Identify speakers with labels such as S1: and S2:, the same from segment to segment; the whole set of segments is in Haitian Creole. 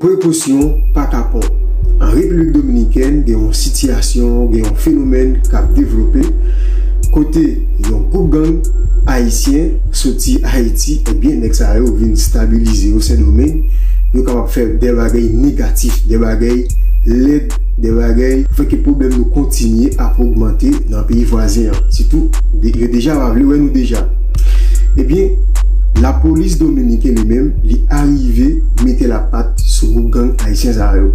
S1: Prekosyon pa kapon. An Repiblik Dominikèn gen yon sitiyasyon, gen yon fenomèn k ap devlope kote yon gwoup gang ayisyen soti Ayiti ebyen nèg sa yo vin stabilize o Sendomeng, yo kapab fè dè bagèy negatif, dè bagèy lèd, dè bagèy fè ke pwoblèm nou kontinye ap ogmante nan peyi vwazen an sitou yo deja pa vle wè nou deja. Ebyen, lapolis dominiken li menm li arive mete lapat sou gwoup gang ayisyen sa yo.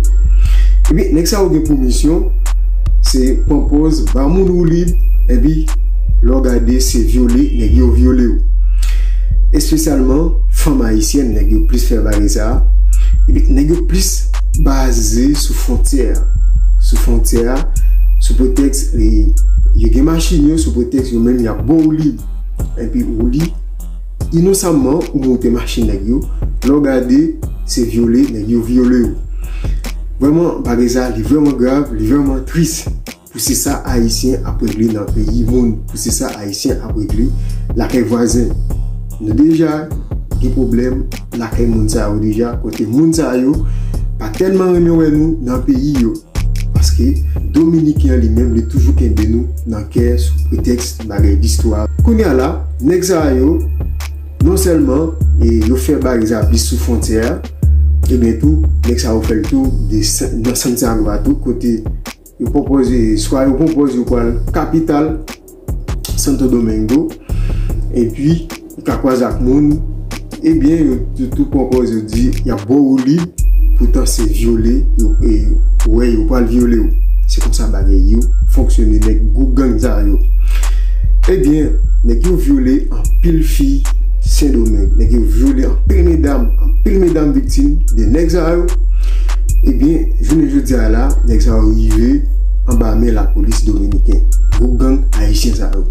S1: Ebyen, nèg sa yo gen pou misyon se pran pòz ba moun woulib epi lè w gade se vyole nèg yo vyole yo. Espesyalman fanm ayisyèn nèg yo plis fè bagay sa. Ebyen, nèg yo plis baze sou fwontyè a, sou fwontyè a sou pretèks yo gen machin yo sou pretèks yo menm y ap. Bon ou lib epi ou li inosamman ou moute machin nèg yo lè w gade se vyole nèg yo vyole w vrèman bagay sa li vrèman grav li vrèman tris. Pou se sa ayisyen ap regle nan peyi moun pou se sa ayisyen ap regle lakay vwazen nou deja gen pwoblèm lakay moun sa yo deja kote moun sa yo pa tèlman renmen wè nou nan peyi yo. Paske Dominiken an li menm li toujou kenbe nou nan kè sou pretèks bagay distwa. Kounye a la, nèg sa yo non sèlman yo fè bagay sa plis sou fwontyè a, ebyen tou nèg sa yo fè l tou nan Santiago a tou kote yo pwopoze swa yo pwopoze yo pral kapital. Santo Domingo epi ou ka kwaze ak moun ebyen yo tou pwopose yo di yap bo ou li poutan se vyole yo wè yo pral vyole ou se konsa bagay yo fonksyone nèg gwoup gang sa yo ebyen nèg yo vyole anpil fi sendomeng nèg yo vyole anpil medam anpil medam viktim de nèg sa yo ebyen jounen jodi a la nèg sa yo rive anba men lapolis dominiken, gwoup gang ayisyen sa yo.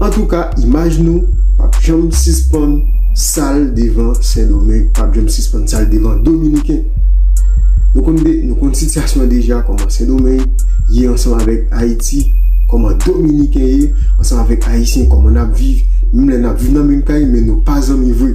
S1: Antouka imaj nou pap janm sispann sal devan sendomeng, pap janm sispann sal devan dominiken. Nou konn de, nou konn sityasyon an deja kòman sendomeng ye ansanm avèk ayiti, kòman dominiken ye ansanm avèk ayisyen, kòman nap viv, menm lè nap viv nan menm kay men nou pa zanmi vre.